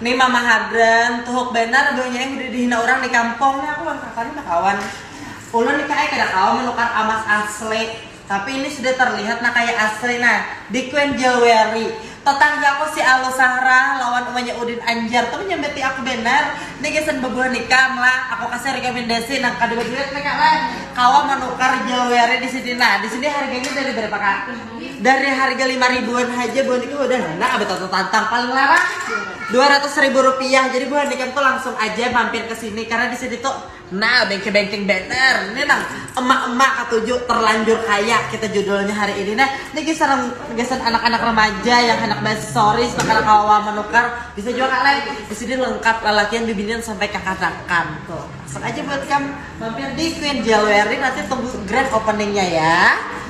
Ni mama hadran, tuhuk banar buhnya eh udah dihina urang di kampung ni aku wan kaka ni bakawan. Ulun ni kak ai kada kawa menukar amas asli, tapi ini sudah terlihat nah kaya asli nah, di Queen Jewelry. Tetanggaku si Alu Sahrah lawan umanya Udin Anjar tu menyambati aku banar, ni gasan bebuah nikam lah, aku kasih rekomendasi nang kada baduit ni kak lah, kawa menukar jewelry di sini nah, di sini harganya dari berapa kak? Dari harga lima ribuan aja buah ini udah enak abah tata tantang paling larang dua ratus ribu rupiah. Jadi buah ini tuh langsung aja mampir ke sini karena di sini tuh nah bengke bengkeng banner. Ini nang emak-emak ketujuh terlanjur kaya kita judulnya hari ini nah. Ini geser geser anak-anak remaja yang anak basoris bakal kawa menukar bisa juga kalian di sini lengkap lalakian bibinian sampai kakanakan tuh. Langsung aja buat kamu. Mampir di Queen Jewelry nanti tunggu grand openingnya ya.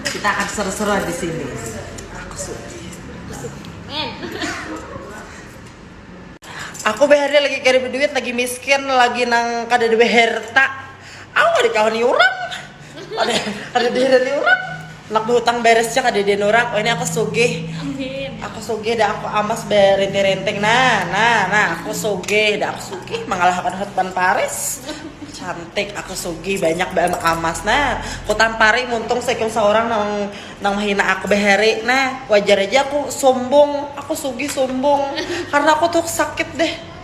Kita akan seru-seruan di sini. Aku sudi. Aku behari lagi kada beduit, lagi miskin, lagi nang kada ada beherta. Aku kada dikawani urang, kada, kada diirani urang. Handak bahutang beres ja kadada nurang, wahini aku sugih, aku sugih dah aku amas barinti-rinting nah, nah, nah aku sugih dah aku sugih mangalahakan Hotman Paris, cantik aku sugih banyak baamas nah, kutampari muntung saikung saurang nang nang mahina aku bahari nah, wajar haja aku sumbung, aku sugih sumbung karna aku tuh sakit deh.